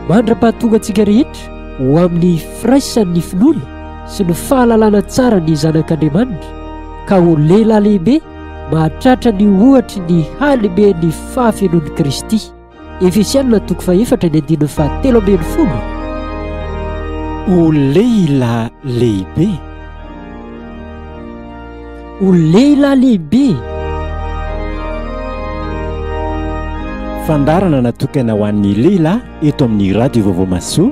Mandra-pahatonga antsika rehetra ho amin'ny firaisan'ny finoana sy ny fahalalana tsara ny zanak'Andriamanitra ka ho lehilahy lehibe mahatratra ny ohatry ny halehiben'ny fahafenoan'i Kristy. Efesianina toko fahefatra ny andininy fahatelo ambin'ny folo. O lehilahy lehibe! O lehilahy lehibe! Fandaharana natokana ho an'ny lehilahy eto amin'ny Radio Vaovao Mahasoa.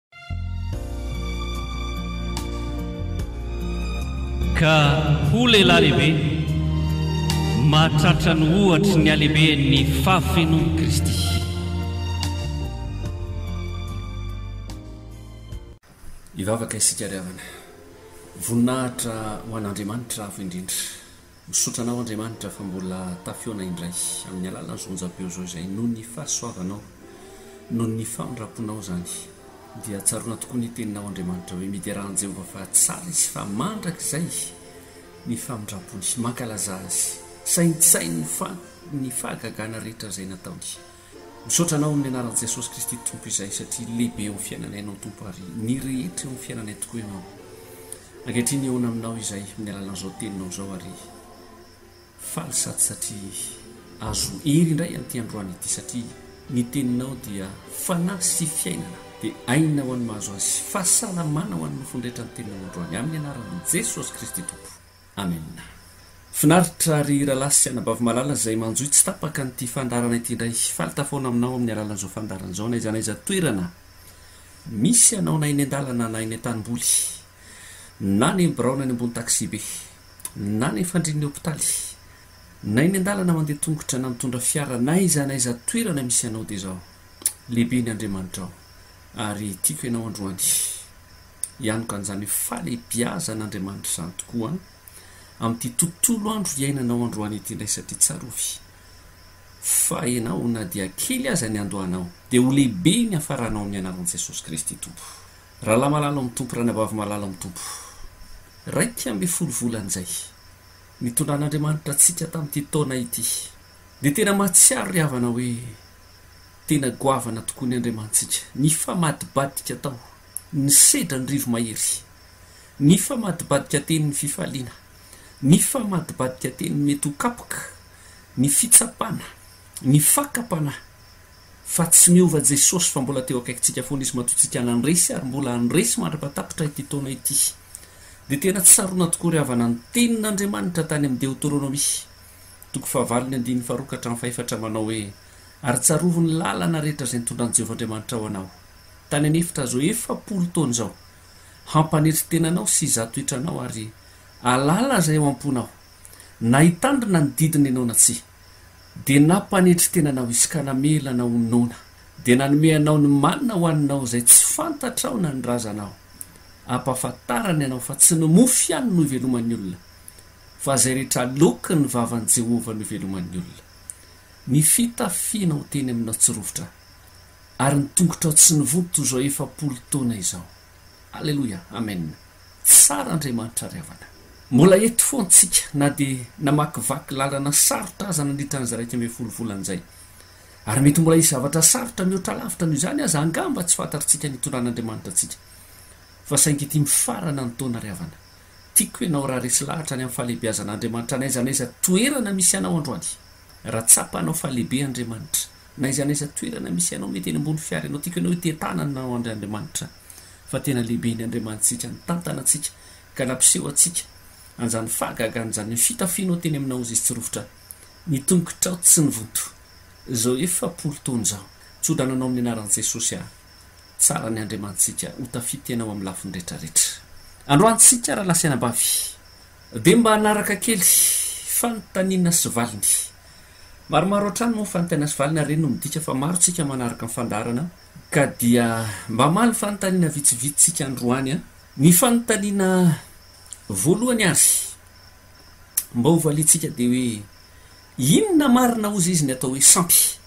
Ka hoy lehilahy lehibe, Mahatratra ny ohatry ny halehiben' ny fahafenon' i Kristy. Hivavaka isika ry havana. Voninahitra ho an'Andriamanitra avo indrindra. Misaotra anao Andriamanitra fa mbola tafihaona indray amin'ny alalan'izao onjam-peo izao izay noho ny fahasoavanao, noho ny famindramponao izany dia tsaroana tokoa ny teninao Andriamanitra hoe midera an'i Jehovah fa tsara izy fa mandrakizay ny famindrampony, mankalazà azy, saintsaino ny fahagagana rehetra izay nataony. Misaotra anao amin'ny anaran'i Jesosy Kristy Tompo izay satria lehibe eo amin'ny fiainanay ianao Tompo ary ny rehetra eo amin'ny fiainanay tokoa ianao. Ankehitriny eona aminao izay amin'ny alalan'izao teninao izao ary faly sady satria azo hery indray amin'ity androany ity satria ny teninao dia fanahy sy fiainana dia aina ho an'ny mahazo azy. Fahasalamana ho an'ny nofony rehetra ny teninao androany amin'ny anaran'i Jesosy Kristy Tompo. Amen. Finaritra ry Ralahy sy Anabavy malala izay manjohy tsy tapaka an'ity fandaharana ity indray. Faly tafaona aminao amin'ny alalan'izao fandaharana izao n'aiza n'aiza toerana misy anao na eny an-dalana na eny an-tanimboly na any amin'ny biraona any ambony taxi-be na any fandrian'ny hopitaly na eny an-dalana mandeha tongotra na mitondra fiara n'aiza n'aiza toerana misy anao dia izao lehibe ny Andriamanitrao ary tiako ianao androany. Hianoka an'izany fahalehibiazan'Andriamanitra izany tokoa amin'ity tontolo andro iainanao androany ity indray satria tsarovy fa ianao na dia kely aza ny andohanao dia ho lehibe ny hafaranao amin'ny anaran'i Jesosy Kristy Tompo. Rahalahy malala ao amin'ny Tompo, ranabavy malala ao amin'ny Tompo. Iraika ambin'ny folo volana izay nitondran'Andriamanitra antsika tamin'ity taona ity dia tena mahatsiaro ry havana hoe tena goavana tokoa ny Andriamanitsika. Nifamadibadika tao. Nisedra ny rivo-mahery. Nifamadibadika teny ny fifaliana. Nifamadibadika teny ny mety ho kapoka, ny fitsapana, ny fakam-panahy fa tsy miova Jesosy fa mbola teo akaikintsika foana Izy matoantsika nandresy ary mbola handresy mandra-patapitra ity taona ity. Dia tena tsy sarona tokoa ry havana ny tenin'Andriamanitra tany amin'ny Deoteronomia, toko fahavalon'ny andininy faharoa ka hatramin'ny fahefatra manao hoe, Ary tsarovy ny lalana rehetra izay nitondran'i Jehovah Andriamanitrao anao. Tany an'efitra izao efapolo taona izao, hampanetry tena anao sy izaho toetra anao ary hahalala izay ao am-ponao, na hitandrina ny didiny ianao na tsia. Dia nampanetry tena anao Izy ka namela anao ho noana, dia nanome anao ny manina hohaninao izay tsy fantatrao na ny razanao. Ampahafantarany anao fa tsy ny mofo ihany no iveloman'ny olona, fa izay rehetra aloakin'ny vavan'i Jehovah no iveloman'ny olona. Ny fitafianao teny aminao tsy rovitra, Ary ny tongotrao tsy nivoha toy izao efapolo taona izao. Aleloia! Amen! Tsara Andriamanitra ry havana. Mbola eto foana tsika na dia namakivaky lalana sarotra aza nandritra ny zaraika ambin'ny folo volana izay. Ary mety mbola hisy zavatra sarotra mihoatra lavitra noho izany aza angamba tsy fantatritsika ny hitondran'Andriamanitra antsika. Fa saingy ity mifarana ny taona ry havana. Tiako ianao raha resy lahatra any amin'ny fahalehibeazan'Andriamanitra n'aiza n'aiza toerana misy anao androany. Raha tsapanao fa lehibe Andriamanitra, Na aiza na aiza toerana misy anao mety eny ambony fiara ianao tiako ianao hite tanana anao andry Andriamanitra fa tena lehibe ny Andriamanitsika nitantana antsika ka nampiseho antsika anzany fahagagana zany ny fitafinao teny aminao izy tsy rofotra ny tongotrao tsy nivonto zao efapolo taona zao tsodrano anao amin'ny anaran'i Jesosy aho tsara ny Andriamanitsika ho tafita ianao amin'ny lafiny retraretra androany tsika raha lahy sy anabavy. Dia mba hanaraka kely, fanontaniana sy valiny. Maromaro hatrany moa ny fanontaniana sy valiny ary ireny no midika fa maro tsika manaraka ny fandaharana ka dia mba hamaly ny fanontaniana vitsivitsy tsika androany an! Ny fanontaniana voalohany ary mba ho valiantsika dia hoe inona marina ozy izy ny atao hoe sampy?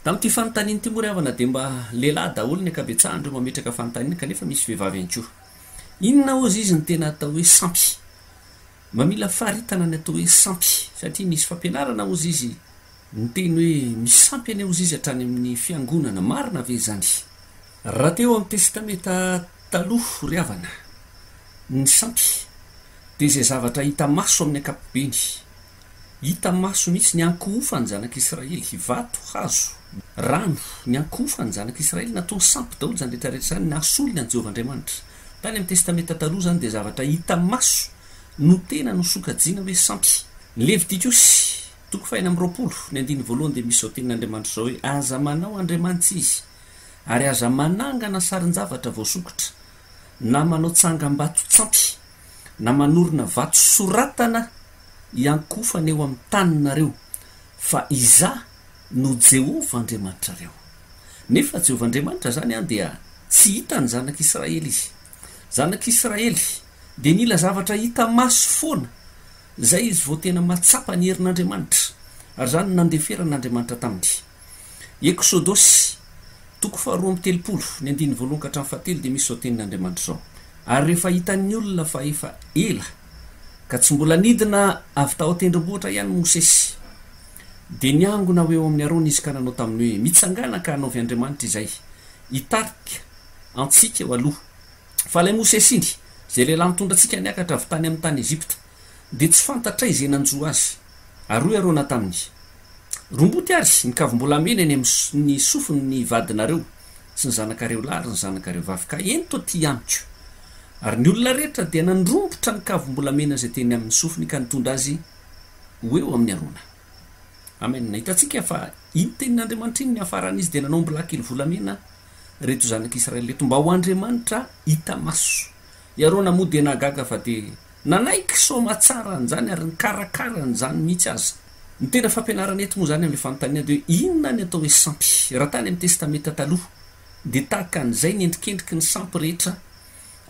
Tamin'ity fanontaniana ity moa ry havana dia mba lehilahy daholo ny ankabetsahan'ireo mametraka fanontaniana kanefa misy vehivavy ihany koa. Inona ozy izy ny tena atao hoe sampy? Mba mila faritana ny atao hoe sampy satria misy fampianarana ozy izy miteny hoe misy sampy anie ozy izy hatrany amin'ny fiangonana, marina ve izany? Raha teo amin'ny Testameta Taloha ry havana, ny sampy dia izay zavatra hita maso amin'ny ankapobeny, Hita maso mihitsy ny ankohofan'ny zanak'i Israely, vato, hazo, rano, ny ankohofan'ny zanak'i Israely, nataony sampy daholo izany rehetra rehetra izany, nahasolony an'i Jehovah Andriamanitra. Tany amin'ny Testamenta Taloha izany dia zavatra hita maso no tena nosokajiana hoe sampy. Ny Levitikosy, toko fahenina amby roapolo, ny andininy voalohany dia misy izao tenin'Andriamanitra izao hoe, Aza manao andriamanitra izy, ary aza manangana sarin-javatra voasokitra, na manao tsangambato-tsampy. na manorina vato soratana hiankofana eo amin'ny taninareo fa Izaho no Jehovah Andriamanitrareo. Nefa Jehovah Andriamanitra izany dia tsy hita ny zanak'Israely izy. Zanak'Israely dia nila zavatra hita maso foana, izay izy vao tena mahatsapa ny herin'Andriamanitra, ary izany no nandeferan'Andriamanitra taminy. Eksodosy, toko faharoa amby telopolo, ny andininy voalohany ka hatramin'ny fahatelo dia misy izao tenin'Andriamanitra izao, Ary rehefa hitan'ny olona fa efa ela ka tsy mbola nidina avy tao an-tendrombohitra ihany Mosesy, dia niangona ho eo amin'i Arona izy ka nanao taminy hoe, Mitsangàna ka hanaovy andriamanitra izay hitarika antsika eo aloha, fa ilay Mosesy iny, izay lehilahy nitondra antsika niakatra avy tany amin'ny tany Egypta. dia tsy fantatray izay nanjo azy. Ary hoy Arona taminy, Romboty ary ny kavim-bolamena eny amin'ny sofiny ny vadinareo sy ny zanakareo lahy ary ny zanakareo vavy, ka ento atỳ amiko. Ary ny olona rehetra dia nandrombotra ny kavim-bolamena izay teny amin'ny sofiny ka nitondra azy ho eo amin'i Arona. Amen. Hitantsika fa iny tenin'Andriamanitra iny niafarany izy dia nanao ombilahikely volamena ireto zanak'Israely ireto mba ho Andriamanitra hita maso. I Arona moa dia nahagaga fa dia nanaiky soamatsara an'izany ary nikarakara an'izany mihitsy aza. Ny tena fampianarana eto moa izany amin'ilay fanontaniana dia hoe inona ny atao hoe sampy. Raha tany amin'ny Testamenta Taloha dia tahaka an'izay ny endrikendriky ny sampy rehetra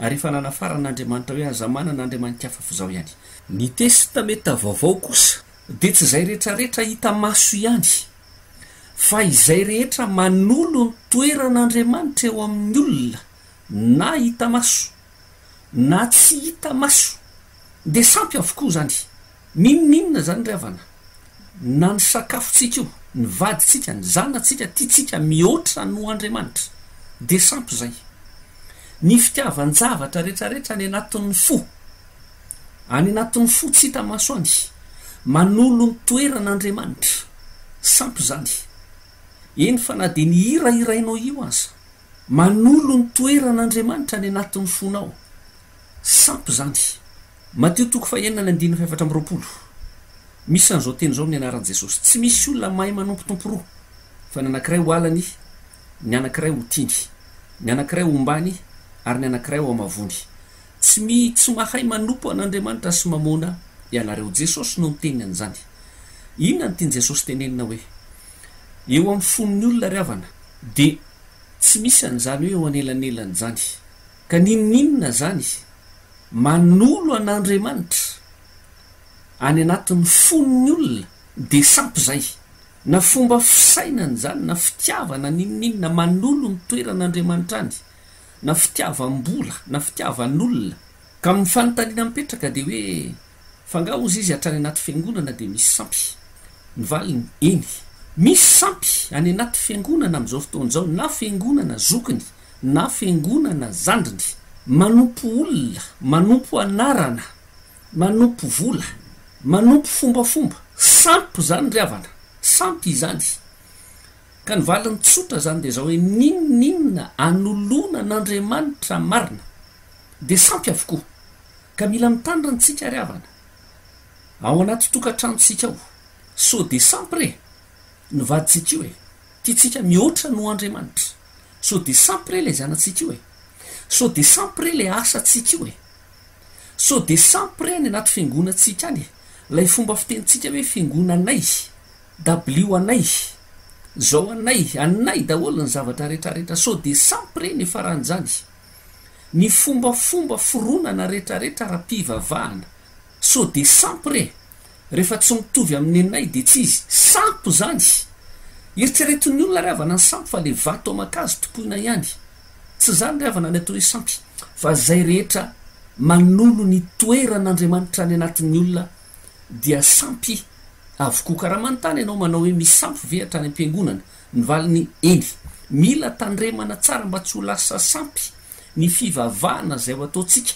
ary efa nanafaran'Andriamanitra hoe aza manana andriamani-kafa fa izaho ihany. Ny Testamenta Vaovao kosa dia tsy izay rehetrarehetra hita maso ihany fa izay rehetra manolo ny toeran'Andriamanitra eo amin'ny olona. na hita maso na tsy hita maso dia sampy avokoa izany. N'inon'inona izany ry havana, na ny sakafontsika io, ny vadintsika, ny zanatsika tiantsika mihoatra noho Andriamanitra, dia sampy izay. Ny fitiavan-javatra rehetrarehetra any anatin'ny fo, any anatin'ny fo tsy hita maso any, manolo ny toeran'Andriamanitra. Sampy izany. Eny fa na dia ny hira hirainao io aza, Manolo ny toeran'Andriamanitra any anatin'ny fonao. Sampy izany. Matio toko fahenina ny andininy fahefatra amby roapolo. Misy an'izao teny izao amin'ny anaran'i Jesosy, Tsy misy olona mahay manompo tompo roa, fa ny anankiray ho alany, ny anankiray ho tiany, ny anankiray ho ombany, ary ny anankiray ho hamavoany. Tsy mi, tsy mahay manompo an'Andriamanitra sy Mamôna ianareo. Jesosy no niteny an'izany. Inona no tian'i Jesosy tenenina hoe. Eo amin'ny fon'ny olona ry havana dia tsy misy an'izany hoe eo anelanelan' izany. Ka n'inon'inona izany manolo an'Andriamanitra any anatin'ny fon'ny olona dia sampy izay. Na fomba fisainana izany na fitiavana n'inon'inona manolo ny toeran'Andriamanitra any, na fitiavam-bola na fitiavan'olona. Ka ny fanontaniana mipetraka dia hoe. Fa nga ozy izy hatrany anaty fiangonana dia misy sampy? Ny valiny, eny. Misy sampy any anaty fiangonana amin'izao fotoana izao, na fiangonana zokiny, na fiangonana zandriny. Manompo olona, manompo anarana, manompo vola, manompo fombafomba. Sampy izany ry havana, sampy izany. Ka ny valiny tsotra izany dia izao hoe, n'inon'inona anoloana an'Andriamanitra marina dia sampy avokoa. Ka mila mitandrina ntsika ry havana ao anaty tokantranontsika ao so de sampy re ny vadintsika io e tiantsika mihoatra noho Andriamanitra so de sampy re le zanatsika io e so de sampy re le asatsika io e so de sampy re any anaty fiangonantsika any e lay fomba fitenintsika hoe fiangona anay dabilio anay zao anay anay daholo ny zavatra retraretra so de sampy re ny faran'izany Ny fombafomba foronana retraretra ara pivavahana so de sampy re refa tsy mitovy amin nenay de tsy izy sampy zany eritreretin ny olona ry havana ny sampy fa le vato amankazo tompoina ihany tsy zany ry havana ny atao hoe sampy fa zay rehetra manolo ny toeran Andriamanitra any anatin ny olona dia sampy avokoa karaha manontany ianao manao hoe misy sampy ve hatrany ampiangonana Ny valiny, Eny, mila tandremana tsara mba tsy ho lasa sampy ny fivavahana izay ho ataontsika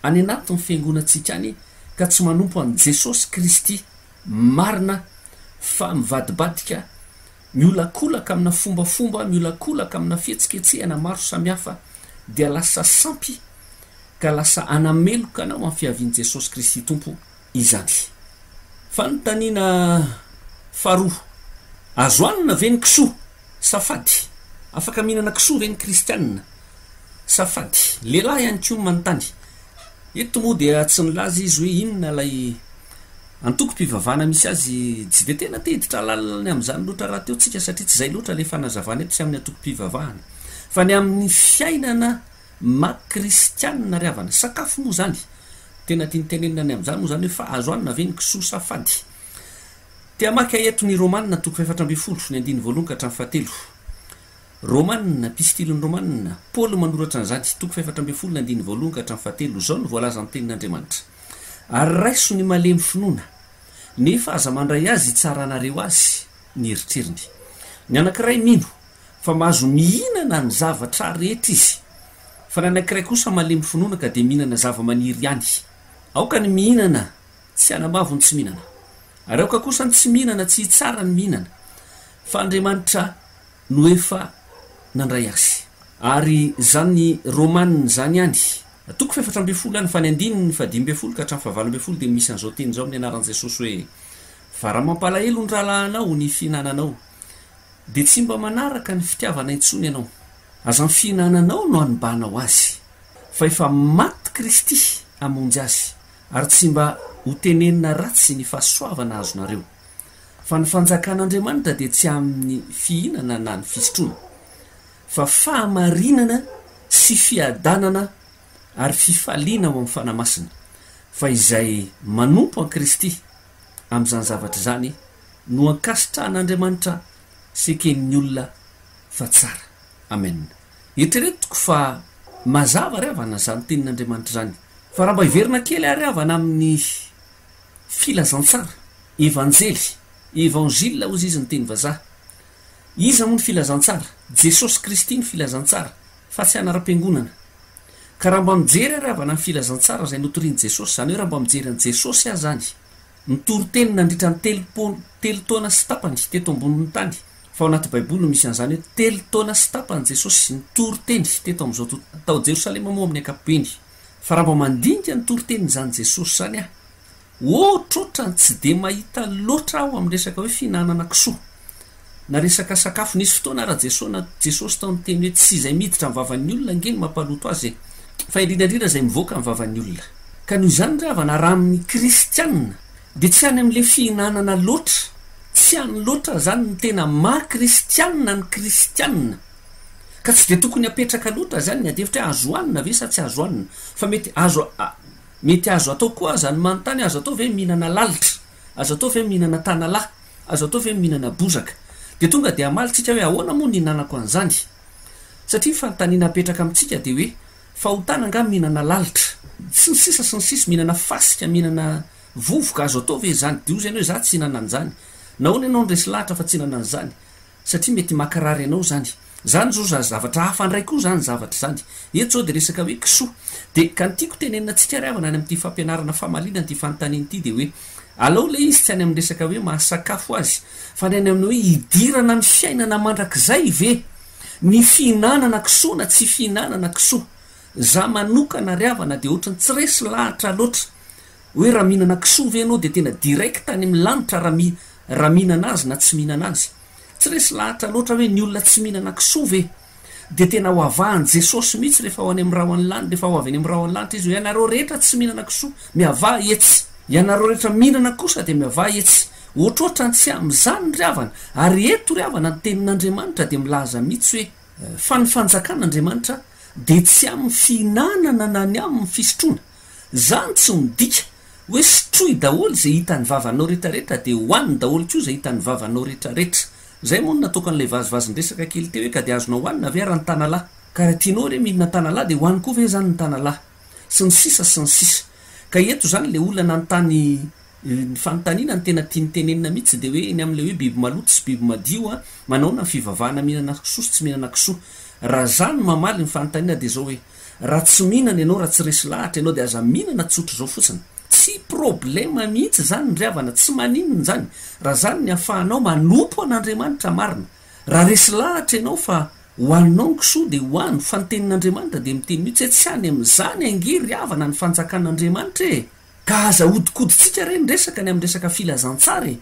any anatin'ny fiangonantsika any ka tsy manompo an'i Jesosy Kristy marina fa mivadibadika, miolakolaka amina fombafomba, miolakolaka amina fihetsiketsehana maro samihafa dia lasa sampy ka lasa hanameloka anao amin'ny fiavian'i Jesosy Kristy Tompo. izany. Fanontaniana faharoa, Azo hanina ve ny kisoa? Safady, Afaka mihinana kisoa ve ny kristianina? Safady, Lehilahy ihany koa manontany. Eto moa dia tsy nilaza izy hoe inona ilay antokom-pivavahana misy azy. Tsy dia tena te-hiditra alalany amin'izany loatra rahateo tsika satria tsy izay loatra ilay fanazavana eto sy amin'ny antokom-pivavahana fa ny amin'ny fiainana Mac kristianina ry havana. Sakafo moa zany tena tiany tenenina any amzany moa zany hoe fa azo hanina ve ny kisoa sa fady? Te hamaky ahy eto ny Romana toko fahefatra ambin'ny folo ny andininy voalohany ka hatramin'ny fahatelo. Romana, Epistiliny Romana, Paoly manoratra an'izany, toko fahefatra ambin'ny folo ny andininy voalohany ka hatramin'ny fahatelo, izao no voalaza ny tenin'Andriamanitra, Ary raiso ny malemy finoana, nefa aza mandray azy hitsaranareo azy ny eritreriny. Ny anankiray mino, fa mahazo mihinana ny zavatra rehetra izy. Fa ny anankiray kosa malemy finoana ka dia mihinana zava-maniry ihany. Aoka ny mihinana tsy hanamavo ny tsy mihinana, ary aoka kosa ny tsy mihinana tsy hitsara ny mihinana, fa Andriamanitra no efa nandray azy. Ary izany Romana izany ihany, toko fahefatra ambin'ny folo ihany, fa ny andininy fahadimy ambin'ny folo ka hatramin'ny fahavalo ambin'ny folo dia misy an'izao teny izao amin'ny anaran'i Jesosy hoe, Fa raha mampalahelo ny rahalahinao ny fihinananao, Dia tsy mba manaraka ny fitiavana intsony ianao. Aza ny fihinananao no hanibanao azy. Fa efa maty Kristy hamonjy azy, ary tsy mba ho tenenina ratsy ny fahasoavana azonareo. Fa ny fanjakan'Andriamanitra dia tsy amin'ny fihinana na ny fisotroana, fa fahamarinana sy fiadanana ary fifaliana ao amin'ny Fanahy Masina. Fa izay manompo an'i Kristy amin'izany zavatra izany no ankasitrahan'Andriamanitra sy eken'ny olona fa tsara. Amen. Eritreretiko fa mazava ry havana izany tenin'Andriamanitra izany. Fa raha mba hiverina kely ary havana amin'ny filazantsara, evanjely, evangile hozy izy ny teny vazaha. Iza moa ny filazantsara? Jesosy Kristy ny filazantsara fa tsy anaram-piangonana. Ka raha mba mijery ary havana ny filazantsara izay notorian'i Jesosy, izany hoe raha mba mijery an'i Jesosy aza any, nitory teny nandritra ny telopolo, telo taona sy tapany, teto ambonin'ny tany, fa ao anaty Baiboly no misy an'izany hoe telo taona sy tapany Jesosy nitory teny teto amin'izao to, tao Jerosalema moa amin'ny ankapobeny, fa raha mba mandinika ny toritenin'izany Jesosy izany aho, Ohatrohatrany tsy dia mahita loatra aho amin'ny resaka hoe fihinanana kisoa na resaka sakafo. Nisy fotoana ary Jesona, Jesosy tao niteny hoe tsy izay miditra amin'ny vavan'ny olona ange no mampaloto azy e! fa indrindra indrindra izay mivoaka amin'ny vavan'ny olona. Ka noho izany ry havana raha amin'ny kristianina dia tsy any amin'ilay fihinanana loatra, tsy any loatra izany ny tena maha kristianina ny kristianina. Ka tsy dia tokony hapetraka loatra izany ny adihevitra hoe azo hohanina ve sa tsy azo hohanina fa mety azo Mety azo atao koa aza ny manontany, azo atao ve mihinana lalitra? Azo atao ve mihinana tanalahy? Azo atao ve mihinana bozaka? Dia tonga dia hamaly tsika hoe ahoana moa ny hinanako an'izany? Satria ny fanontaniana apetraka amintsika dia hoe fahotana angaha mihinana lalitra? Sy ny sisa sy ny sisa, mihinana fasika, mihinana vovoka, azo atao ve izany? Dia hoy izy anao hoe za tsy hihinana an'izany. Nahoana ianao no resy lahatra fa tsy hihinana an'izany? satria mety makarary anao zany, zany zao za zavatra hafa ndray koa zany zavatra zany, eto zao de resaka hoe kisoa, de ka ny tiako tenenina antsika ry havana any amin'ity fampianarana famalinana ity fanontaniana ity de hoe alao ilay izy tsy any amin'ny resaka hoe mahasakafo azy fa ny any amin'ny hoe hidirana amin'ny fiainana mandrakizay ve ny fihinanana kisoa na tsy fihinanana kisoa, za manokana ry havana de ohatran'ny tsy resy lahatra loatra. Hoe raha mihinana kisoa ve ianao dia tena direct any amin'ny lanitra raha mi raha mihinana azy na tsy mihinana azy? Tsy resy lahatra loatra hoe ny olona tsy mihinana kisoa ve dia tena ho avahan'i Jesosy mihitsy rehefa ho any amin'ny rahon'ny lany rehefa ho avy any amin'ny rahon'ny lanitra izy hoe ianareo rehetra tsy mihinana kisoa miavaha etsy. Ianareo rehetra mihinana kosa dia miavaha etsy. Ohatrohatra ny tsy amin'izany ry havana. Ary eto ry havana ny tenin'Andriamanitra dia milaza mihitsy hoe fa ny fanjakan'Andriamanitra dia tsy amin'ny fihinanana na ny amin'ny fisotroana Zany tsy midika hoe sotroy daholo izay hitan'ny vavanao retraretra dia hohaniny daholo koa izay hitan'ny vavanao retraretra. Zay moa no nataoko an'ilay vazivazin-dresaka kely teo hoe ka dia azonao hohanina ve ary ny tanalahy? Ka raha tianao re mihinana ny tanalahy dia hohaniko koa ve izany ny tanalahy? Sy ny sisa sy ny sisa. Ka eto izany ilay olona nanontany ny fanontaniana ny tena tiany tenenina mihitsy dia hoe ny amin'ilay hoe biby maloto sy biby madio an, manaona ny fivavahana mihinana kisoa sy tsy mihinana kisoa. Raha za no mamaly ny fanontaniana dia izao hoe. Raha tsy mihinana ianao, raha tsy resy lahatra ianao dia aza mihinana tsotra izao fotsiny. Tsy problème mihitsy izany ry havana, tsy maninona izany, raha izany ny ahafahanao manompo an'Andriamanitra marina. Raha resy lahatra ianao fa ho anao ny kisoa dia ho any, fa ny tenin'Andriamanitra dia miteny mihitsy hoe tsy any amin'izany ange ry havana ny fanjakan'Andriamanitra e! Ka aza ahodikodintsika re ny resaka ny amin'ny resaka filazantsara e!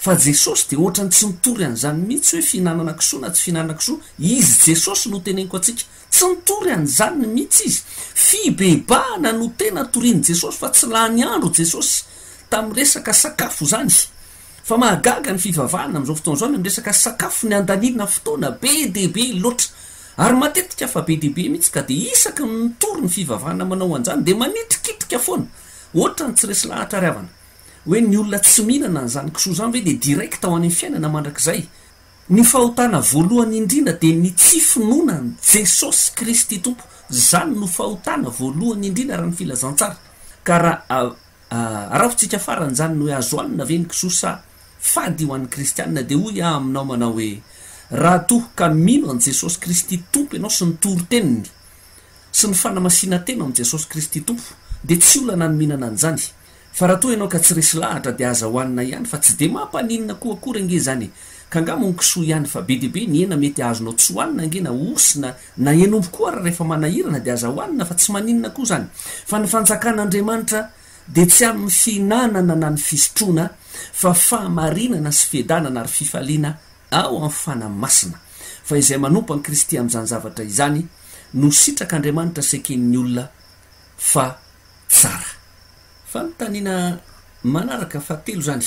Fa Jesosy dia ohatrany tsy nitory an'izany mihitsy hoe fihinanana kisoa na tsy fihinanana kisoa, Izy Jesosy no teneniko antsika. Tsy nitory an'izany mihitsy Izy. Fibebahana no tena torian'i Jesosy fa tsy lany andro Jesosy tamin'ny resaka sakafo izany. Fa mahagaga ny fivavahana amin'izao fotoana izao amin'ny resaka sakafo, ny handaniana fotoana be dia be loatra. Ary matetika fa be dia be mihitsy ka dia isaky ny mitory ny fivavahana manao an'izany dia manitrikitrika foana, ohatrany tsy resy lahatra ary havana. Hoe ny olona tsy mihinana an'izany kisoa izany ve dia direct ho any fiainana mandrakizay? Ny fahotana voalohany indrindra dia ny tsy finoana an'i Jesosy Kristy Tompo. Izany no fahotana voalohany indrindra raha ny filazantsara. Ka raha Araho-tsika farany izany ny hoe azo hanina ve ny kisoa sa fady ho an'ny kristianina? Dia hoy aho aminao manao hoe, raha toa ka mino an'i Jesosy Kristy Tompo ianao sy ny toriteny-ny sy ny fanamasinan-tena ao amin'i Jesosy Kristy Tompo dia tsy olana ny mihinana an'izany, fa raha toa ianao ka tsy resy lahatra dia aza hohanina ihany fa tsy dia mampaninona koa akory ange izany e! Ka angamba ho ny kisoa ihany fa be dia be ny hena mety azonao tsy hohanina ange na osy na Naheno omby koa ary rehefa manahirana dia aza hohanina fa tsy maninona koa izany fa ny fanjakan'Andriamanitra dia tsy amin'ny fihinanana na ny fisotroana fa fahamarinana sy fiadanana ary fifaliana ao amin'ny fanahy masina fa izay manompo an'i Kristy amin'izany zavatra izany no sitrak'Andriamanitra sy eken'ny olona fa tsara. Fanontaniana manaraka fahatelo izany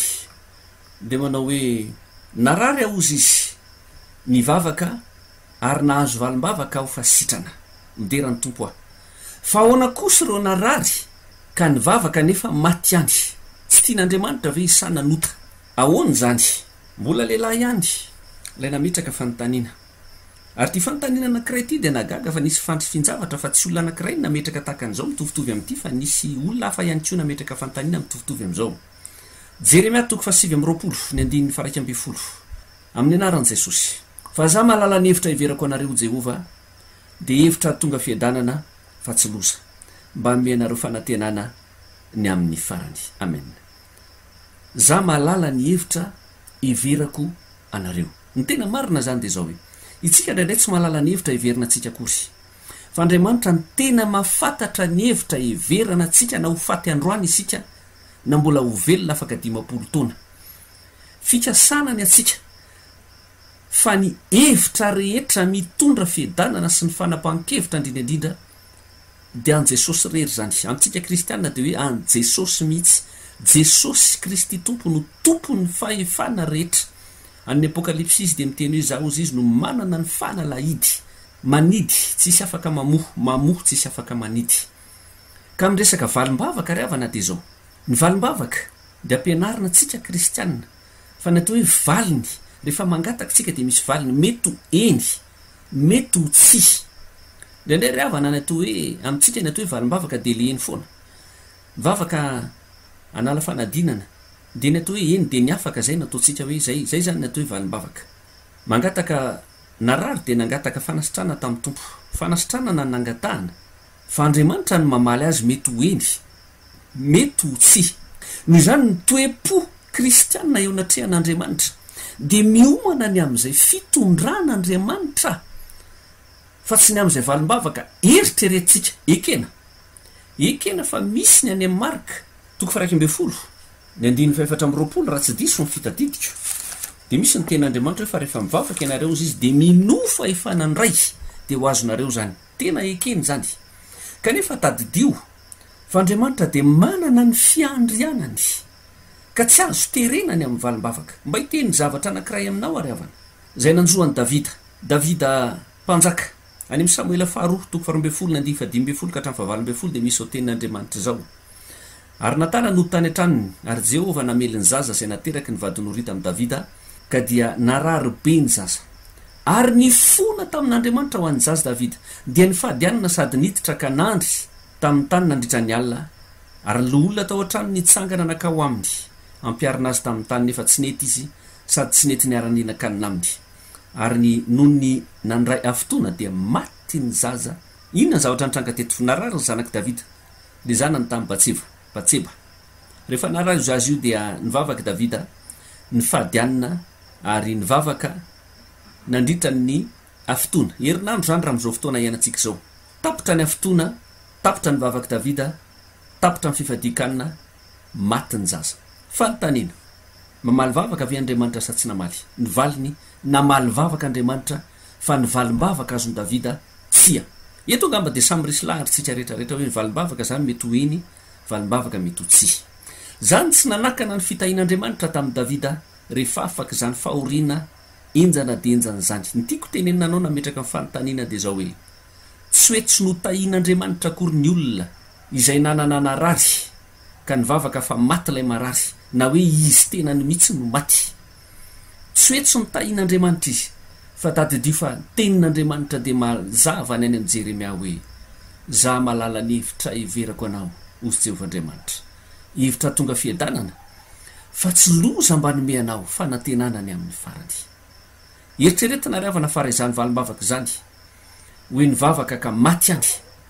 dia manao hoe, Narary aozy izy, nivavaka, Ary nahazo valim-bavaka aho fa sitrana. Midera ny Tompo aho. Fa ahoana kosa ireo narary ka nivavaka nefa maty ihany? Tsy tian'Andriamanitra ve i Sa nanota? Ahoana izany? Mbola lehilahy ihany ilay nametraka fanontaniana. Ary ity fanontaniana anankiray ity dia nahagaga fa nisy fandry fin-javatra fa tsy olona anankiray no nametraka tahaka an'izao mitovitovy amin'ity fa nisy olona hafa ihany koa nametraka fanontaniana mitovitovy amin'izao. Jeremia toko fahasivy amby roapolo, ny andininy faha-iraika ambin'ny folo. Amin'ny anaran'i Jesosy. Fa za mahalala ny hevitra heverako anareo Jehovah dia hevitra hahatonga fiadanana fa tsy loza. Mba hanome anareo fanantenana ny amin'ny farany. Amen. Za mahalala ny hevitra heverako anareo. Ny tena marina zany dia zao hoe, itsika indraindray tsy mahalala ny hevitra heverina antsika akory. Fa Andriamanitra no tena mahafantatra ny hevitra heverana antsika na ho faty androany isika na mbola ho velona afaka dimampolo taona. Fikasana ny antsika fa ny hevitra rehetra mitondra fiadanana sy ny fanapahan-kevitra indrindra indrindra dia an'i Jesosy irery izany. Amintsika kristiana dia hoe an'i Jesosy mihitsy. Jesosy Kristy Tompo no tompon'ny fahefana rehetra. An'ny Apokalypsy izy dia miteny hoe izaho hozy izy no manana ny fanalahidy, manidy tsisy afaka mamoha, mamoha tsisy afaka manidy. Ka miresaka valim-bavaka ry havana dia izao. Ny valim-bavaka dia ampianarina antsika kristiana. Fa ny atao hoe valiny, rehefa mangataka isika dia misy valiny, mety ho eny, mety ho tsia. Indraindray ry havana ny atao hoe, amintsika ny atao hoe valim-bavaka dia le eny foana. Vavaka hanala fanadinana, dia ny atao hoe eny dia ny afaka izay no ataontsika hoe izay, izay izany ny atao hoe valim-bavaka. Mangataka narary dia nangataka fanasitrana tamin'ny Tompo. Fanasitranana no nangatahana. Fa Andriamanitra no mamaly azy mety ho eny, Mety ho tsy. Noho izany, ny toe-po kristiana eo anatrehan'Andriamanitra dia miomana ny amin'izay fitondran'Andriamanitra fa tsy ny amin'izay valim-bavaka eritreretintsika. Ekena. Ekena fa misy ny any amin'ny Marka, toko faha-iraika ambin'ny folo, ny andininy faha-efatra amby roapolo, raha tsy diso ny fitadidiko, dia misy ny tenin'Andriamanitra hoe fa rehefa mivavaka ianareo hozy Izy dia minoa fahefana ny Ray dia ho azonareo izany. Tena ekena izany. Kanefa tadidio fa Andriamanitra dia manana ny fiandrianany ka tsy azo terena ny amin'ny valim-bavaka. Mba hiteny zavatra anankiray aminao ary havana, izay nanjo an'i Davida, Davida mpanjaka. Any amin'ny Samoela faharoa, toko faharoa ambin'ny folo ny andiany fahadimy ambin'ny folo ka hatramin'ny fahavalo ambin'ny folo dia misy izao tenin'Andriamanitra izao, Ary Natana nody tany an-tranony, ary Jehovah namely ny zaza izay nateraky ny vadin'i Orita amin'i Davida, ka dia narary be ny zaza. Ary nifona tamin'Andriamanitra ho an'ny zaza Davida, dia nifady hanina sady niditra ka nandry tamin'ny tany nandritra ny alina, ary ny loholona tao an-trano nitsangana nankao aminy hampiharina azy tamin'ny tany, nefa tsy nety izy, sady tsy nety niara-nihinan-kanina aminy. Ary ny noho ny nandray afotoana, dia maty ny zaza. Inona ny zavatra nitranga teto? Narary ny zanak'i Davida. Dia zanany tamin'i Batseba, Batseba. Rehefa narahin-jo azy io dia nivavaka i Davida, nifady anona ary nivavaka nandritra ny afitoana. Herinandro izany raha amin'izao fotoana iainantsika izao. Tapitra ny afitoana, tapitra ny vavak'i Davida, tapitra ny fifadian-kanina, maty ny zaza. Fanontaniana, Mamaly vavaka ve Andriamanitra sa tsy namaly? Ny valiny, Namaly vavaka Andriamanitra fa ny valim-bavaka azon'i Davida, Tsia. Eto angamba dia samy resy lahatra isika rehetra rehetra hoe ny valim-bavaka izany mety ho eny, valim-bavaka mety ho tsia. Izany tsy nanakana ny fitahian'Andriamanitra tamin'i Davida rehefa afak'izany fahoriana henjana dia henjana izany. Ny tiako tenenina anao nametraka ny fanontaniana dia izao hoe, Tsy hoe tsy notahian'Andriamanitra akory ny olona izay nanana narary ka nivavaka fa maty ilay marary na hoe izy tenany mihitsy no maty? Tsy hoe tsy notahin'Andriamanitra izy, fa tadidio fa ny tenin'Andriamanitra dia mazava ny any amin'i Jeremia hoe, Izaho mahalala ny hevitra heverako anao, hozy Jehovah Andriamanitra, hevitra hahatonga fiadanana, fa tsy loza mba hanome anao fanantenana ny amin'ny farany. Eritreretina ry havana fa raha izany valim-bavaka izany, Hoy ny vavaka ka maty any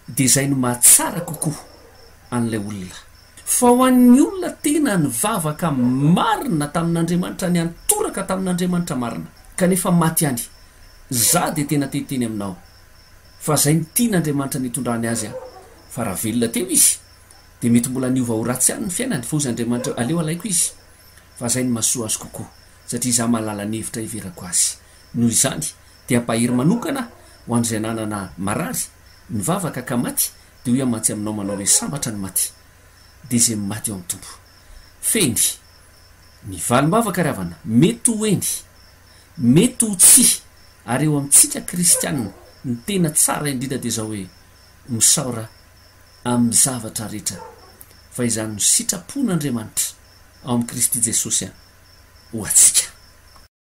dia izay no mahatsara kokoa an'ilay olona. Fa ho an'ny olona tena nivavaka marina tamin'Andriamanitra, niantoraka tamin'Andriamanitra marina, kanefa maty any, izaho dia tena te hiteny aminao fa izay no tian'Andriamanitra nitondrany azy aho. Fa raha velona teo izy dia mety mbola niova ho ratsy ihany ny fiainany, fa hoy Andriamanitra, aleo alaiko izy, fa izay no mahasoa azy kokoa, satria izaho mahalala ny hevitra hiverako azy. Noho izany, dia bahery manokana ho an'izay nanana marary, nivavaka ka maty, dia hoy aho mantsy aminao manao hoe sambatra ny maty, dia izay maty ao amin'ny Tompo. Fehiny. Ny valim-bavaka ry havana, mety ho eny, mety ho tsia, ary eo amintsika kristianina, ny tena tsara indrindra dia izao hoe, misaora amin'ny zavatra rehetra, fa izany no sitrapon'Andriamanitra ao amin'i Kristy Jesosy ho antsika.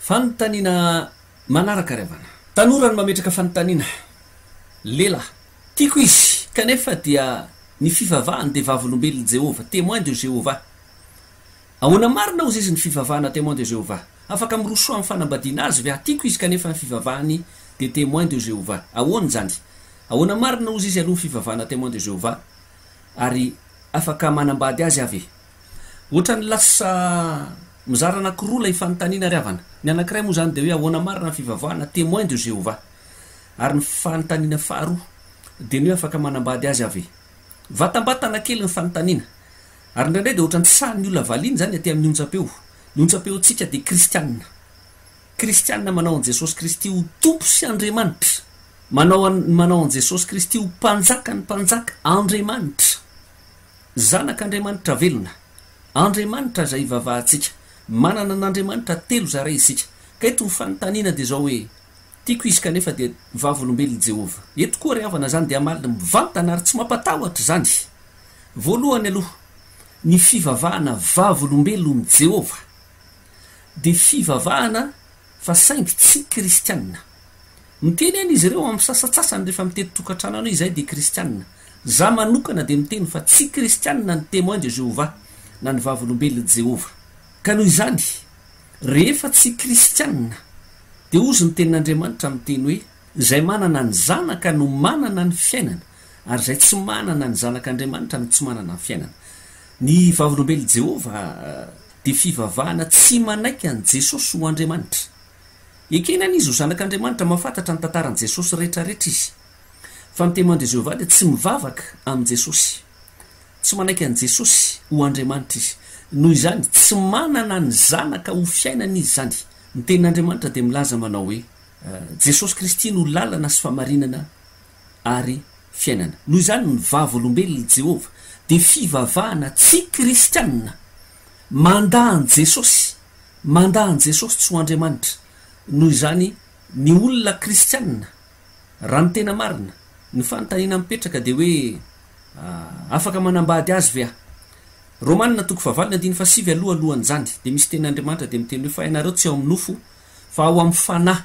Fanontaniana manaraka ry havana. Tanora no mametraka fanontaniana. Lela. Tiako izy, kanefa dia ny fivavahany dia vavolombelon'i Jehovah, Témoin de Jéhovah. Ahoana marina hozy izy ny fivavahana Témoin de Jéhovah? Afaka mirosoa amin'ny fanambadiana azy ve aho? Tiako izy kanefa ny fivavahany dia Témoin de Jéhovah. Ahoana izany? Ahoana marina hozy izy aloha ny fivavahana Témoin de Jéhovah? Ary afaka manambady azy aho ve? Ohatran'ny lasa mizara anankiroa ilay fanontaniana ry havana. Ny anankiray moa izany dia hoe ahoana marina ny fivavahana Témoins de Jéhovah? Ary ny fanontaniana faharoa dia ny hoe afaka manambady azy aho ve? Vatambatana kely ny fanontaniana. Ary indraindray dia ohatran'ny tsy sahin'ny olona valiana izany aty amin'ny onjam-peo. Ny onjam-peontsika dia kristiana. Kristiana manao an'i Jesosy Kristy ho Tompo sy Andriamanitra. Manao an, manao an'i Jesosy Kristy ho Mpanjakan'ny mpanjaka, Andriamanitra. Zanak' Andriamanitra velona. Andriamanitra izay ivavahantsika. Manana an' Andriamanitra telo zara isika. Ka eto ny fanontaniana dia izao hoe, Tiako izy kanefa dia vavolombelon' i Jehovah. Eto koa ry havana izany dia hamaly mivantana ary tsy mampatahotra izany. Voalohany aloha, ny fivavahana vavolombelon' i Jehovah dia fivavahana fa saingy tsy kristiana. Miteny aina izy ireo amin'ny sasantsasany rehefa mitety tokantrano any hoe izahay dia kristiana. Izaho manokana dia miteny fa tsy kristiana ny Témoins de Jéhovah na ny Vavolombelon'i Jehovah. Ka noho izany, rehefa tsy kristiana, dia hozy ny Tenin'Andriamanitra miteny hoe, Izay manana ny Zanaka no manana ny fiainana, ary izay tsy manana ny Zanak'Andriamanitra no tsy manana ny fiainana. Ny Vavolombelon'i Jehovah dia fivavahana tsy manaiky an'i Jesosy ho Andriamanitra. Ekena anie izy ho Zanak'Andriamanitra, mahafantatra ny tantaran'i Jesosy rehetrarehetra izy. Fa ny Temoin-dry Jehovah dia tsy mivavaka amin'i Jesosy. Tsy manaiky an'i Jesosy ho Andriamanitra izy. Noho izany, tsy manana ny Zanaka ho fiainany izy izany. Ny Tenin'Andriamanitra dia milaza manao hoe, Jesosy Kristy no lalana sy fahamarinana ary fiainana. Noho izany, ny Vavolombelon'i Jehovah dia fivavahana tsy kristiana. Mandà an'i Jesosy, mandà an'i Jesosy tsy ho Andriamanitra. Noho izany, ny olona kristiana, raha ny tena marina, ny fanontaniana mipetraka dia hoe, Ah, afaka manambady Azy ve aho? Romana toko fahavalony andininy fahasivy aloha alohan'izany dia misy tenin'Andriamanitra dia miteny hoe, Fa ianareo tsy ao amin'ny nofo fa ao amin'ny Fanahy.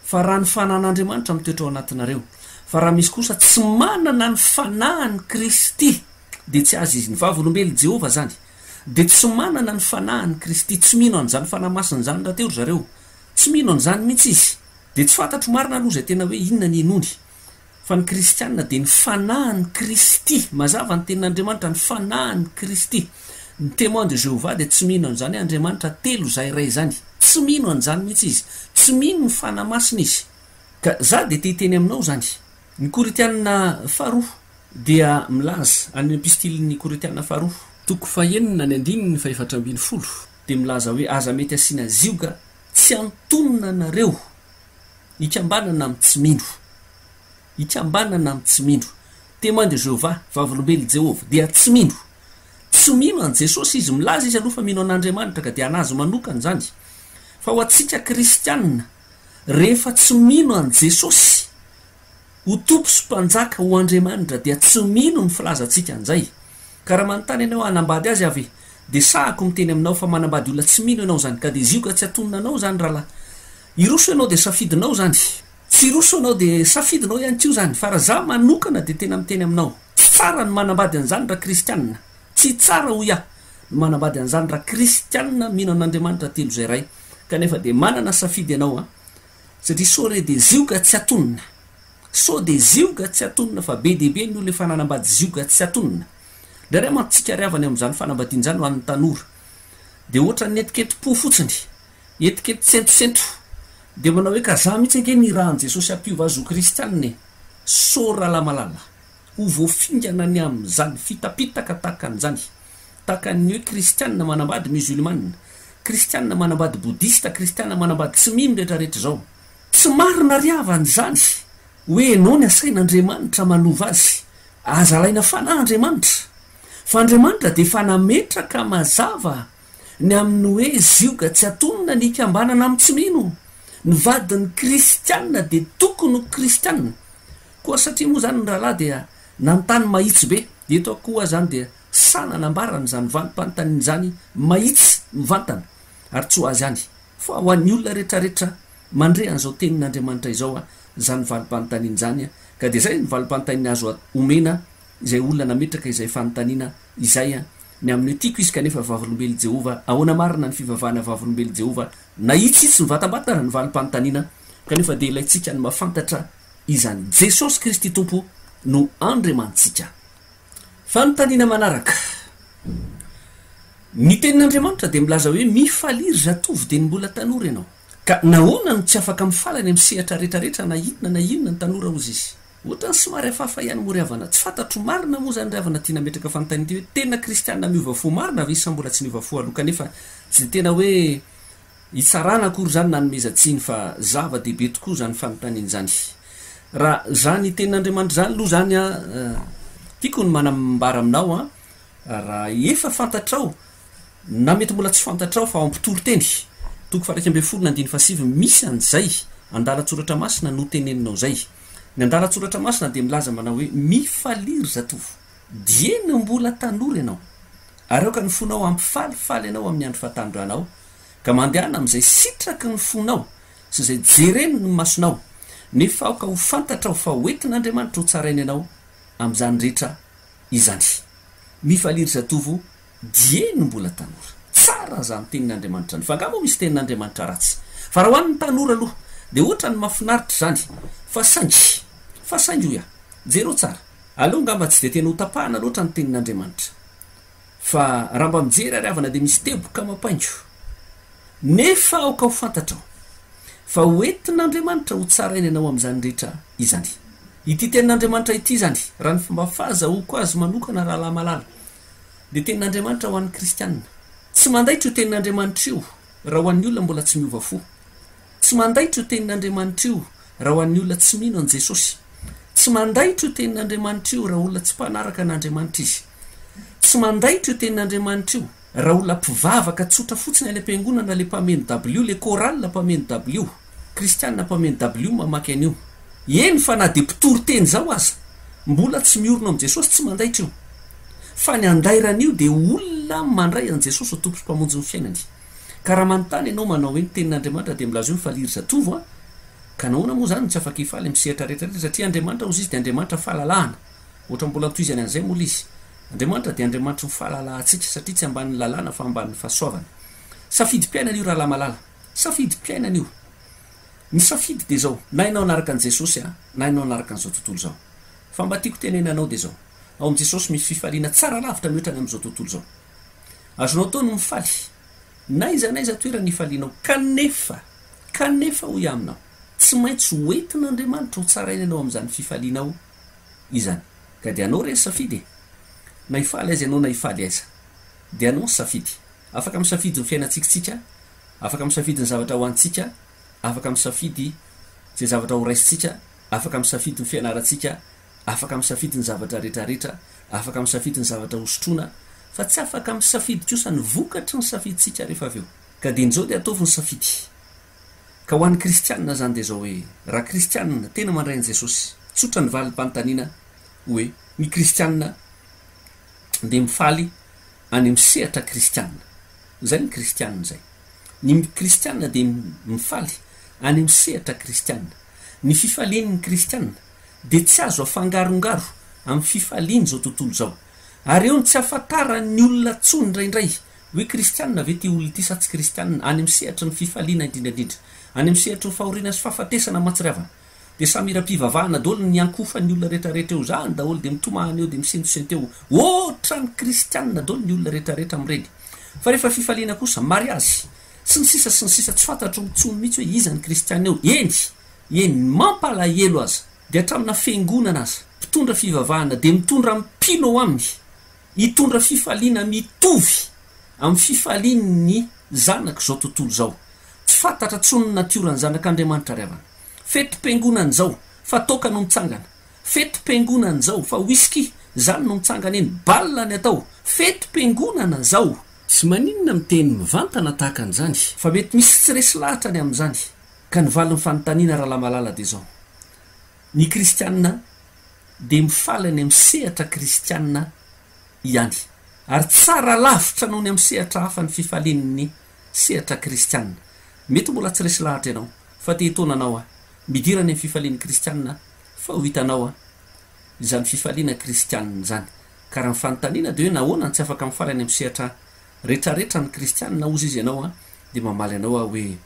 Fa raha ny Fanahin'Andriamanitra mitoetra ao anatinareo, fa raha misy kosa tsy manana ny Fanahin'i Kristy, dia tsy azy izy. Ny Vavolombelon'i Jehovah izany dia tsy manana ny Fanahin'i Kristy. Tsy mino an'izany Fanahy Masina izany rahateo ry zareo. Tsy mino an'izany mihitsy izy. Dia tsy fantatro marina aloha izay tena hoe inona ny hinoany. fa ny kristiana dia ny fanahin'i Kristy, mazava ny tenin'Andriamanitra, ny fanahin'i Kristy. Ny Témoins de Jéhovah dia tsy mino an'izany hoe Andriamanitra telo izaho iray izany. Tsy mino an'izany mihitsy izy. Tsy mino ny Fanahy Masina izy. Ka izaho dia te hiteny aminao izany. Ny Korintiana faharoa dia milaza, any Epistilin'ny Korintiana faharoa. Toko fahenina, ny andininy fahefatra ambin'ny folo, dia milaza hoe, Aza mety asiana zioga tsy antonona anareo. Ikambanana amin'ny tsy mino. Ikambanana amin'ny tsy mino. Témoin de Jéhovah, Vavolombelon'i Jehovah, dia tsy mino. Tsy mino an'i Jesosy izy. Milaza izy aloha fa mino an'Andriamanitra, ka dia an'azy manokana izany. Fa ho antsika kristiana, rehefa tsy mino an'i Jesosy ho Tompo sy Mpanjaka, ho Andriamanitra, dia tsy mino ny filazantsika an'izay. Ka raha manontany ianao hoe hanambady azy aho ve? dia sahako miteny aminao fa manambady olona tsy mino ianao izany. Ka dia zioka tsy hatonina anao izany rahalahy. Hiroso ianao dia safidinao izany. Tsy hiroso ianao dia safidinao ihany koa izany. Fa raha za manokana dia tena miteny aminao. Tsy tsara ny manambady an'izany raha kristianina. Tsy tsara hoy aho ny manambady an'izany raha kristianina mino an'Andriamanitra telo izay Ray. Kanefa dia manana safidy ianao an. Satria sao re dia zioga tsy atonina. Sao dia zioga tsy atonina fa be dia be ny olona efa nanambady zioga tsy atonina. Indraindray mantsy tsikariavana eo amin'izany fanambadiana izany ho an'ny tanora. Dia ohatran'ny etiketi-po fotsiny. Etikety sentrosentro. Dia manao hoe, ka za mihitsy ange nirahan'i Jesosy hampiova azy ho kristianina e! Sorry Ralamalala. Ho voafingana ny amin'izany fitapitaka tahaka an'izany. Tahaka ny hoe kristianina manambady musulmane, kristianina manambady bodista, kristianina manambady tsy mino retraretra izao. Tsy marina ry havana izany hoe enao ny asain'Andriamanitra manova azy. Aza alaina fanahy Andriamanitra. Fa Andriamanitra dia efa nametraka mazava ny amin'ny hoe zioga tsy atonina ny hikambanana amin'ny tsy mino, ny vadin'ny kristianina dia tokony ho kristianina koa satria moa izany ny rahalahy dia nanontany mahitsy be, eto akoa izany dia sahy nanambara an'izany valim-panontaniana izany mahitsy mivantana ary tsy ho azy ihany fa ho an'ny olona rehetrarehetra mandre an'izao tenin'Andriamanitra izao izany valim-panontaniana izany ka dia izay ny valim-panontaniana azo omena izay olona nametraka izay fanontaniana izay Ny amin'io tiako izy kanefa Vavolombelon'i Jehovah, ahoana marina ny fivavahana Vavolombelon'i Jehovah? Nahitsitsy mivatambatana ny valim-panontaniana, kanefa dia ilaintsika ny mahafantatra izany, Jesosy Kristy Tompo no Andriamanitsika. Fanontaniana manaraka, Ny Tenin'Andriamanitra dia milaza hoe, Mifaliry zatovo dia ny mbola tanora ianao. Ka nahoana no tsy afaka mifaly any amin'ny sehatra rehetra rehetra na inona na inona ny tanora, hozy izy? Ohatran'ny somary hafahafa ihany moa ry havana. Tsy fantatro marina moa izany ry havana ity nametraka fanontaniana ity hoe tena kristiana miova fo marina ve sa mbola tsy niova fo aloha kanefa tsy dia tena hoe hitsarana akory izany na hanomezan-tsiny fa zava-dehibe tokoa izany fanontaniana izany. Raha izany tenin'Andriamanitra izany aloha izany an, tiako ny manambara aminao an, raha efa fantatrao na mety mbola tsy fantatrao fa ao am-pitoriteny, toko faha-iraika ambin'ny folo na andininy faha-sivy, misy an'izay andalan-tsoratra masina noteneninao izay. Ny andalan-tsoratra masina dia milaza manao hoe, Mifalia, ry zatovo, dieny mbola tanora ianao, ary aoka ny fonao hampifalifaly anao amin'ny andro fahatanoranao, ka mandehana amin'izay sitraky ny fonao sy izay jeren'ny masonao, nefa aoka ho fantatrao fa hoentin'Andriamanitra hotsaraina ianao amin'izany rehetra izany. Mifalia, ry zatovo, Dieny mbola tanora. Tsara zany tenin Andriamanitra any fa nga moa misy tenin Andriamanitra ratsy? Fa raha ho an'ny tanora aloha dia ohatrany mafinaritra izany fa saingy fa saingy hoy aho jereo tsara aleo ngamba tsy dia tena ho tapahana loatra ny tenin Andriamanitra fa raha mba mijery ary havana dia misy teboka mapaingo nefa aoka ho fantatrao fa ho entin Andriamanitra ho tsaraina ianao amin'izany rehetra izany. Ity tenin Andriamanitra ity izany raha ny fomba faza hoko azy manokana rahalahy malala dia tenin'Andriamanitra ho an'ny kristiana. Tsy mandaitra io tenin'Andriamanitra io raha ho an'ny olona mbola tsy miova fo. Tsy mandaitra io tenin'Andriamanitra io raha ho an'ny olona tsy mino an'i Jesosy. Tsy mandaitra io tenin'Andriamanitra io raha olona tsy mpanaraka an'Andriamanitra izy. Tsy mandaitra io tenin'Andriamanitra io raha olona mpivavaka tsotra fotsiny any am-piangonana ilay mpameno dabilio, ilay chorale mpameno dabilio. Kristiana mpaminany dabilio mamaky an'io. Eny fa na dia mpitory teny izao aza, mbola tsy miorina ao amin'i Jesosy, tsy mandaitra io. Fa ny andairana io dia olona mandray an'i Jesosy ho Tompo sy Mpamonjin'ny fiainany. Ka raha manontany ianao manao hoe ny tenin'Andriamanitra dia milaza hoe mifalia ry zatovo a! ka nahoana moa izany no tsy afaka hifaly amin'ny sehatra rehetra rehetra? Satria Andriamanitra hozy izy dia Andriamanitra fahalalahana. Ohatra mbola notohizany an'izay moa ilay izy. Andriamanitra dia Andriamanitry ny fahalalahantsika satria tsy ambanin'ny lalàna fa ambanin'ny fahasoavana. Safidim-piainana io rahalahy malala. Safidim-piainana io. Ny safidy dia izao, na ianao hanaraka an'i Jesosy a, na ianao hanaraka an'izao tontolo izao. Fa mba tiako tenena anao dia izao, ao amin'i Jesosy misy fifaliana tsara lavitra mihoatra ny amin'izao tontolo izao. Azonao atao ny mifaly, na iza na iza toerana ifalianao. Kanefa, kanefa hoy aho aminao, tsy maintsy ho entin'Andriamanitra ho tsaraina ianao amin'izany fifalianao izany. Ka dia anao re ny safidy e. Na hifaly aiza ianao na hifaly aiza. Dia anao ny safidy. Afaka misafidy ny fiainantsika isika, afaka misafidy ny zavatra ho hanintsika, afaka misafidy izay zavatra ho raisintsika, afaka misafidy ny fianarantsika, afaka misafidy ny zavatra rehetrarehetra, afaka misafidy ny zavatra hosotroina, fa tsy afaka misafidy kosa ny vokatry ny safidintsika rehefa avy eo. Ka dia injao dia ataovy ny safidy. Ka ho an'ny kristianina izany dia izao hoe, raha kristianina, tena mandray an'i Jesosy, tsotra ny valim-panontaniana hoe, ny kristianina dia mifaly any amin'ny sehatra kristiana. Izay ny kristiana izay. Ny kristiana dia mifaly any amin'ny sehatra kristiana. Ny fifalian'ny kristiana dia tsy azo afangarongaro amin'ny fifalian'izao tontolo izao. Ary eo no tsy ahafantaran'ny olona intsony indraindray hoe kristiana ve ity olona ity sa tsy kristiana, any amin'ny sehatry ny fifaliana indrindraindrindra, any amin'ny sehatry ny fahoriana sy fahafatesana aman-tsiriavana. Dia samy hiram-pivavahana daholo ny niankofan'ny olona retraretra eo zany daholo dia mitomany eo dia misentosento eo otrany kristianina daholo ny olona retraretra amin'ireny fa rehefa fifaliana kosa mariazy sy ny sisa sy ny sisa tsy fantatro intsony mihitsy hoe iza ny kristiana eo eny eny ny mampalahelo aza dia hatramina fiangonana aza mpitondra fivavahana dia mitondra mpino ao aminy hitondra fifaliana mitovy amin'ny fifalian'ny zanak'izao tontolo izao tsy fantatra intsony ny natioran'ny zanak'Andriamanitra ry havana. Fetim-piangonana izao fa toaka no mitsangana, fetim-piangonana izao fa whisky izany no mitsangana eny, bal ny atao, fetim-piangonana izao! Sy maninona miteny mivantana tahaka an'izany? Fa mety misy tsy resy lahatra ny amin'izany ka ny valin'ny fanontaniana Ralamalala dia izao, Ny kristiana dia mifaly any amin'ny sehatra kristiana ihany ary tsara lavitra noho ny amin'ny sehatra hafa ny fifalian'ny Sehatra kristiana. Mety mbola tsy resy lahatra ianao, fa te hitaona anao aho. Midira any amin'ny fifalian'ny kristiana aho, fa ho hitanao aho. Izany fifaliana kristiana izany. Ka raha ny fanontaniana dia hoe nahoana no tsy afaka mifaly any amin'ny sehatra rehetrarehetra ny kristiana, hozy izy ianao aho, dia mamaly anao aho hoe,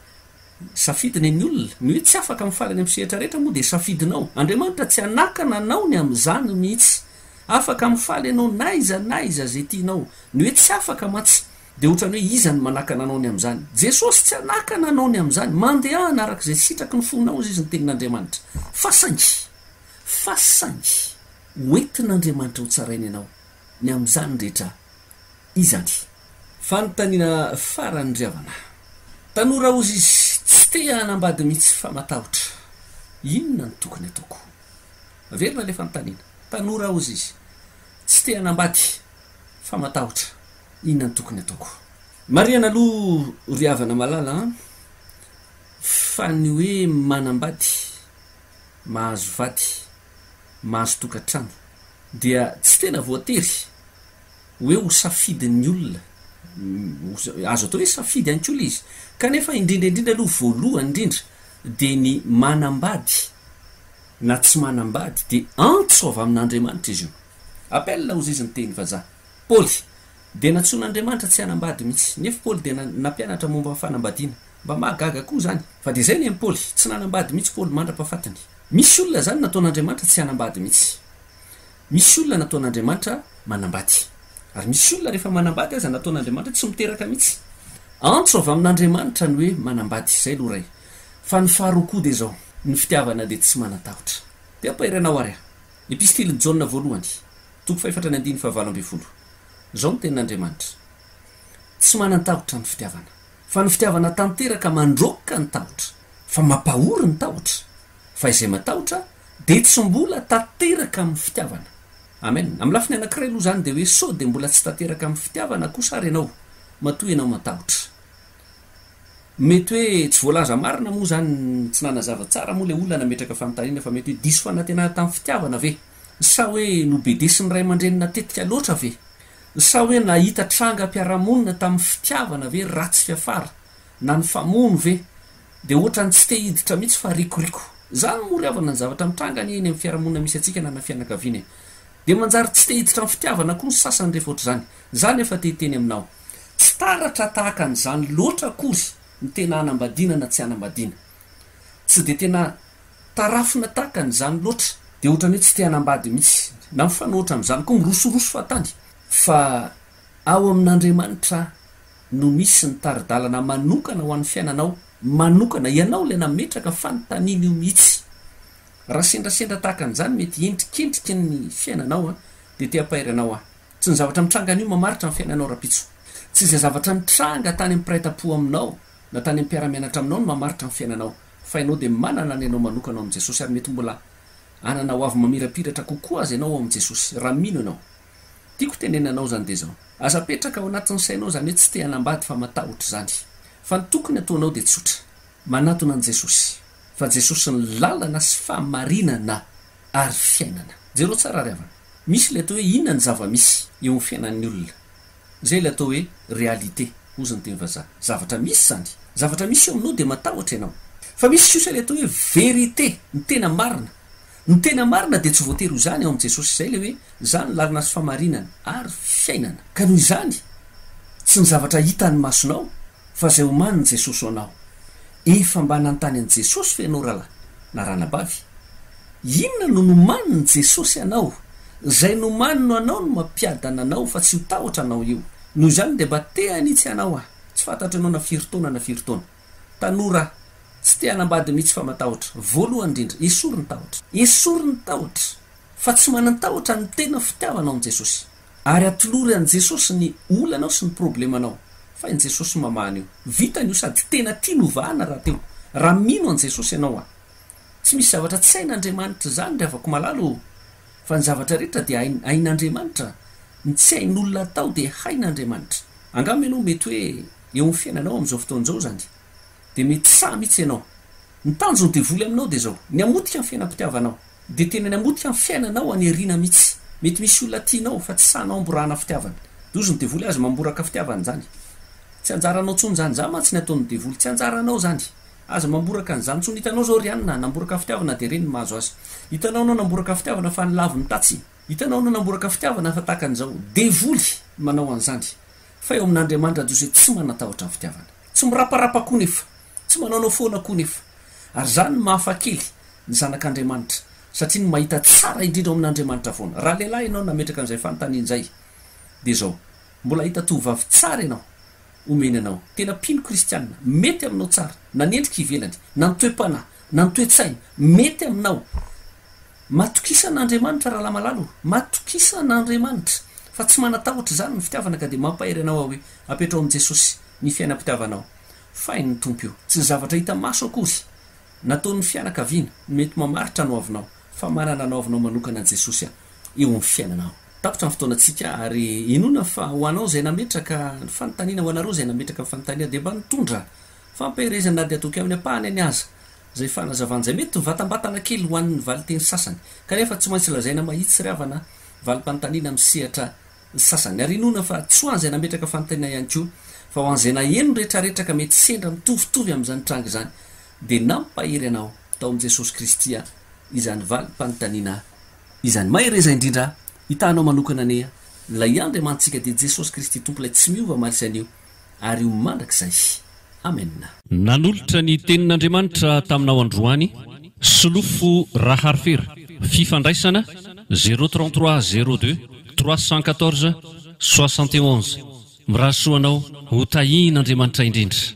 Safidy ny an'ny olona. Ny hoe tsy afaka mifaly any amin'ny sehatra rehetra moa dia safidinao. Andriamanitra tsy hanakana anao ny amin'izany mihitsy. Afaka mifaly ianao na iza na iza izay tianao. Ny hoe tsy afaka mantsy Dia otrany hoe iza no manakana anao ny amin'izany? Jesosy tsy hanakana anao ny amin'izany. Mandehana araka izay sitraky ny fonao hozy izy ny tenin'Andriamanitra. Fa saingy, fa saingy, ho entin'Andriamanitra ho tsaraina ianao ny amin'izany rehetra izany. Fanontaniana farany ry havana. Tanora hozy izy, tsy te hanambady mihitsy fa matahotra. Inona no tokony ataoko? Averina ilay fanontaniana. Tanora hozy izy, tsy te hanambady fa matahotra. Inona no tokony ataoko? Marihana aloha ry havana malala an, fa ny hoe manambady, mahazo vady, mahazo tokantrano dia tsy tena voatery hoe ho safidin'ny olona, azo atao hoe safidy ihany koa ilay izy, kanefa indrindra indrindra aloha voalohany indrindra dia ny manambady na tsy manambady dia antso avy amin'Andriamanitra izy io, appel ozy izy ny teny vazaha, Paoly. Dia nantsoin'Andriamanitra tsy hanambady mihitsy. Nefo Paoly dia nampianatra momba ny fanambadiana. Mba mahagaga koa izany. Fa dia izay ny an'i Paoly. Tsy nanambady mihitsy Paoly mandra-pafatiny. Misy olona izany nataon'Andriamanitra tsy hanambady mihitsy. Misy olona nataon'Andriamanitra manambady. Ary misy olona rehefa manambady aza nataon'Andriamanitra tsy miteraka mihitsy. Antso avy amin'Andriamanitra ny hoe manambady. Izay aloha iray. Fa ny faharoa koa dia izao. Ny fitiavana dia tsy manan-tahotra. Dia ampahairanao ary aho. Epistilin'i Jaona voalohany. Toko fahefatra ny andininy fahavalo ambin'ny folo. Izao no tenin'Andriamanitra, Tsy manan-tahotra ny fitiavana, fa ny fitiavana tanteraka mandroaka ny tahotra, fa mampahory ny tahotra, fa izay matahotra dia tsy mbola tanteraka amin'ny fitiavana. Amen. Amin'ny lafiny anankiray aloha izany dia hoe sao dia mbola tsy tanteraka amin'ny fitiavana kosa ary ianao, matoa ianao matahotra. Mety hoe tsy voalaza marina moa izany, tsy nanazava tsara moa ilay olona nametraka fanontaniana fa mety hoe diso fanantenana tamin'ny fitiavana ve? Sa hoe nobedesin'ny ray aman-dreny natetika loatra ve? Sa hoe nahita trangam-piarahamonina tamin'ny fitiavana ve ratsy fiafara? Na nifamono ve? Dia ohatran'ny tsy te hiditra mihitsy fa rikoriko. Izany moa ry havana ny zavatra mitranga anie eny amin'ny fiarahamonina misy antsika na na fianakaviana e. Dia manjary tsy te hiditra amin'ny fitiavana koa ny sasany rehefa ohatr'izany. Izany aho fa te hiteny aminao. Tsy taratra tahaka an'izany loatra akory ny tena hanambadiana na tsy hanambadiana. tsy dia tena tarafina tahaka an'izany loatra, dia ohatran'ny hoe tsy te hanambady mihitsy, na mifanohitra amin'izany koa, mirosoroso fahatany, fa ao amin'Andriamanitra no misy ny tari-dalana manokana ho an'ny fiainanao manokana, ianao ilay nametraka fanontaniana io mihitsy. Raha sendrasendra tahaka an'izany mety hiendrikendriky ny fiainanao an, dia te hampahery anao aho. Tsy ny zavatra mitranga anio mamaritra ny fiainanao Rapitso. Tsy izay zavatra nitranga tany amin'ny mpiray tampo aminao. na tany amin'ny mpiara-mianatra aminao no mamaritra ny fiainanao fa ianao dia manana ny anao manokana ao amin'i Jesosy ary mety mbola hanana hoavy mamirapiratra kokoa aza ianao ao amin'i Jesosy raha mino ianao. Tiako tenenina anao izany dia izao. Aza apetraka ao anatin'ny sainao izany hoe tsy te hanambady fa matahotra izany. Fa ny tokony hataonao dia tsotra. Manatona an'i Jesosy fa Jesosy ny lalana sy fahamarinana ary fiainana. Jereo tsara ry havana. Misy ilay atao hoe inona ny zava-misy eo amin'ny fiainan'ny olona. Izay ilay atao hoe réalité, hozy ny teny vazaha. Zavatra misy izany. Zavatra misy eo aminao dia matahotra ianao. Fa misy kosa ilay atao hoe vérité, ny tena marina. Ny tena marina dia tsy voatery ho izany ao amin'i Jesosy. Izay ilay hoe, Izaho no lalana sy fahamarinana ary fiainana. Ka noho izany, tsy ny zavatra hitan'ny masonao. Fa zay omanin'i Jesosy ho anao. Efa mba nanontany an'i Jesosy ve ianao rahalahy na ranabavy? Inona no nomanin'i Jesosy anao? Zay nomaniny ho anao no mampiadana anao fa tsy ho tahotra anao io. Noho izany dia mba te hanitsy anao aho. Tsy fantatro ianao na firy taona na firy taona. Tanora aho. Tsy te hanambady mihitsy fa matahotra. Voalohany indrindra, esory ny tahotra. Esory ny tahotra. Fa tsy manan-tahotra ny tena fitiavanao an'i Jesosy. Ary atolory an'i Jesosy ny olanao sy ny problemanao fa i Jesosy mamaha an'io. Vitany io sady tena tiany hovahana rahateo raha mino an'i Jesosy ianao a! Tsy misy zavatra tsy hain'Andriamanitra izany ry havako malala ô! Fa ny zavatra rehetra dia hain, hain'Andriamanitra, ny tsy hain'olona atao dia hain'Andriamanitra. Angamba ianao mety hoe eo amin'ny fiainanao amin'izao fotoana izao izany dia mety sahy mihitsy ianao. Ny tanjon'ny devoly aminao dia izao, ny hamotika ny fiainam-pitiavanao. Dia tena ny hamotika ny fiainanao any aoriana mitsy. Mety misy olona tianao fa tsy sahy namborahana fitiavana. Dozon'ny devoly azy mamboraka fitiavana izany. Tsy anjaranao tsony izany. Izany mantsy ny ataon'ny devoly. Tsy anjaranao izany. Aza mamboraka an'izany tsony. Hitanao izao ry Anna, namboraka fitiavana dia ireny ny mahazo azy. Hitanao anao namboraka fitiavana fa nilavo ny tatsy. Hitanao anao namboraka fitiavana fa tahaka an'izao. Devoly manao an'izany. Fa eo amin'Andriamanitra Diosy hoe tsy manan-tahotra ny fitiavana. Tsy miraparapa koa nefa. Tsy manaonao foana koa nefa. Ary izany no mahafa kely ny zanak'Andriamanitra, satria ny mahita tsara indrindra ao amin'Andriamanitra foana. Raha lehilahy ianao nametraka an'izay fanontaniana izay, dia izao, mbola hahita tovovavy tsara ianao, omeny anao, tena mpino kristianina, mety aminao tsara, na ny endrika ivelany, na ny toe-panahy, na ny toe-tsaina, mety aminao. Matokisa an'Andriamanitra rahalamalala o, matokisa an'Andriamanitra, fa tsy manatahotra izany ny fitiavana ka dia mampahery anao aho hoe, apetraho amin'i Jesosy ny fiainam-pitiavanao. Fay ny Tompo io. Tsy ny zavatra hita maso akory, nataon'ny fianakaviana, no mety mamaritra ny hoavinao, fa manana ny hoavinao manokana Jesosy eo amin'ny fiainanao. Tapitra ny fotoanantsika, ary inoana fa ho anao izay nametraka ny fanontaniana, ho anareo izay nametraka ny fanontaniana, dia mba nitondra fampiherezana na dia toa kely ampahany any aza, izay fanazavana izay mety mivatambatana kely ho an'ny valinteny sasany, kanefa tsy maintsy lazaina mahitsy ry havana, valim-panontaniana misehatra Ny sasany ary inoana fa tsy ho an'izay nametraka fanontaniana ihany koa, fa ho an'izay naheno ny retraretra ka mety sendra mitovitovy amin'izany tranga izany, dia nampahery anao tao amin'i Jesosy Kristy aho izany valim-panontaniana izany. Mahereza indrindra hitaha anao manokana anie Ilay Andriamanitsika dia Jesosy Kristy Tompo Ilay tsy miova omaly sy anio. ary ho mandrakizay. Amen. Nanolotra ny Tenin'Andriamanitra taminao androany Solofo Raharifera, Fifandraisana, zéro trente trois zéro deux trois cent quatorze soixante et onze Mirary soa anao, ho tahin'Andriamanitra indrindra.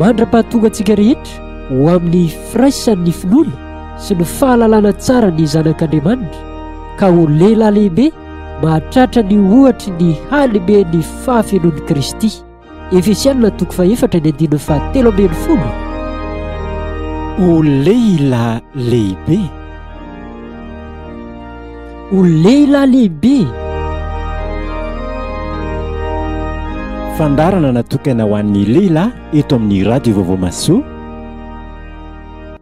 Mandra-pahatonga antsika rehetra ho amin'ny firaisan'ny finoana sy ny fahalalana tsara ny zanak'Andriamanitra ka ho lehilahy lehibe mahatratra ny ohatry ny halehiben'ny fahafenoan'i Kristy. Efesianina toko fahefatra ny andininy fahatelo ambin'ny folo. O lehilahy lehibe! O lehilahy lehibe! Fandaharana natokana ho an'ny lehilahy eto amin'ny Radio Vaovao Mahasoa.